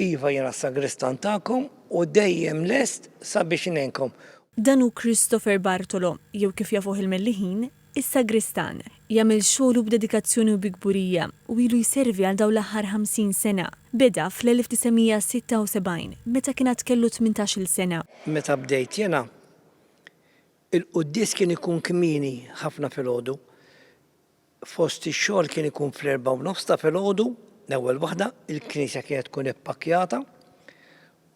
Iva, jiena s-sagristan tagħkom u dejjem lest sabiex ingħinkom. Dan hu Christopher Bartolo, jew kif jafuh il-Melliħin, is-Sagristan. Jagħmel xogħlu b'dedikazzjoni u bi kburija u ilu jservi għal dawn l-aħħar 50 sena. Beda fl-1976, meta kien għad kellu tmintax-il sena. Meta bdejt jiena, il-quddies kien ikun kmieni ħafna filgħodu. Fost ix-xogħol kien ikun fl-erbgħa u nofs ta' filgħodu, l-ewwel waħda, il-knisja kienet tkun ippakkjata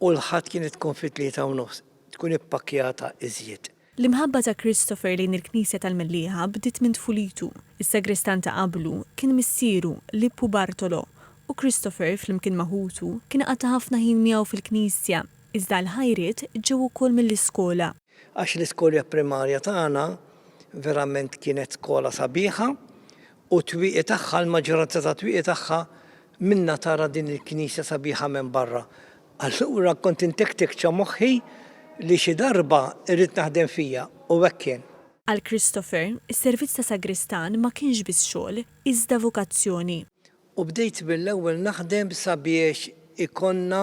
u l-Ħadd kienet tkun fit-tlieta u nofs, tkun ippakkjata iżjed. L-imħabba ta' Christopher lejn il-knisja tal-Mellieħa bdiet minn tfulitu. Is-sagristan ta' qablu kien missieru, Lippu Bartolo, u Christopher, flimkien ma' ħutu, kien qatta' ħafna ħin miegħu fil-knisja, iżda l-ħajriet ġew ukoll mill-iskola. Għax l-iskolja primarja tagħna verament kienet skola sabiħa u t-twieqi tagħha l-maġġoranza tat-twieqi tagħha minnha tara din il-knisja sabiħa minn barra. Allura kont intektek ċa moħħi li xi darba rrid naħdem fiha u hekk kien. Għal Christopher, is-servizz ta' sagristan ma kienx biss xogħol, iżda vokazzjoni. U bdejt mill-ewwel naħdem sabiex ikollna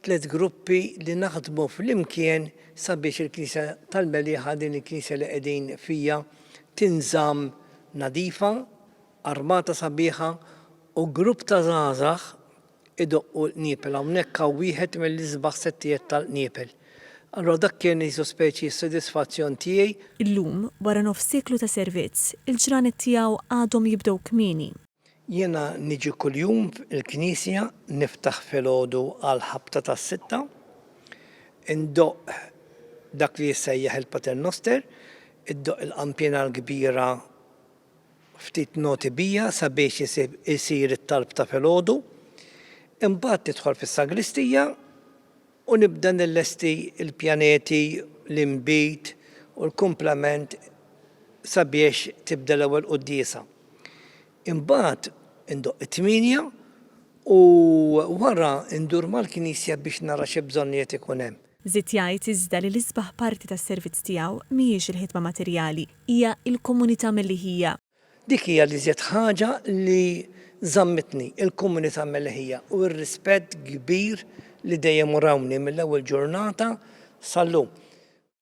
tliet gruppi li naħdmu flimkien sabiex il-Knisja tal-Meliħa, din il-Knisja li qegħdin fija, tinżamm nadifa, armata sabiħa u grupp ta' żgħażagħ idoqqu l-qniepel. Hawnhekk hawn wieħed mill-isbaħ settijiet tal-qniepel. Allura dak kien qisu speċi sodisfazzjon tiegħi. Illum, wara nofs sieklu ta' servizz, il-ġranet tiegħu għadhom jibdew kmieni. Jiena niġi kuljum il-knisja niftaħ filgħodu għal ħabta tas-sitta, indoqq dak li jissejjaħ il-Pater Noster, iddoqq il-qanpiena l-kbira ftit noti bija sabiex isir it-talb ta' filgħodu, imbagħad tidħol fis-sagristija u nibda nillesti l-pjaneti, l-inbid u l-kumplament sabiex tibda l-ewwel quddiesa. Imbagħad indoqq it-tmienja u wara ndur mal-knisja biex nara xi bżonnijiet ikun hemm. Żied jgħid iżda li l-isbaħ parti tas-servizz tiegħu mhijiex il-ħidma materjali, hija l-komunità milli hija. Dik hija l-iżjed ħaġa li żammitni, il-komunità Melħija u r-rispett kbir li dejjem urawni mill-ewwel ġurnata sal-lum.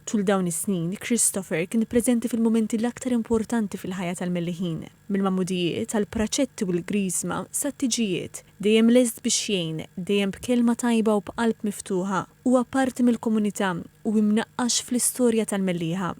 Tul dawn is-snin, Christopher kien preżenti fil-mumenti l-aktar importanti fil-ħajja tal-Melliħin, mill-magħmudijiet, għall-praċetti u l-Griżma, sat-tiġijiet. Dejjem lest biex jgħin, dejjem b'kelma tajba u b'qalb miftuħa. Huwa parti mill-komunità u imnaqqax fl-istorja tal-Mellieħa.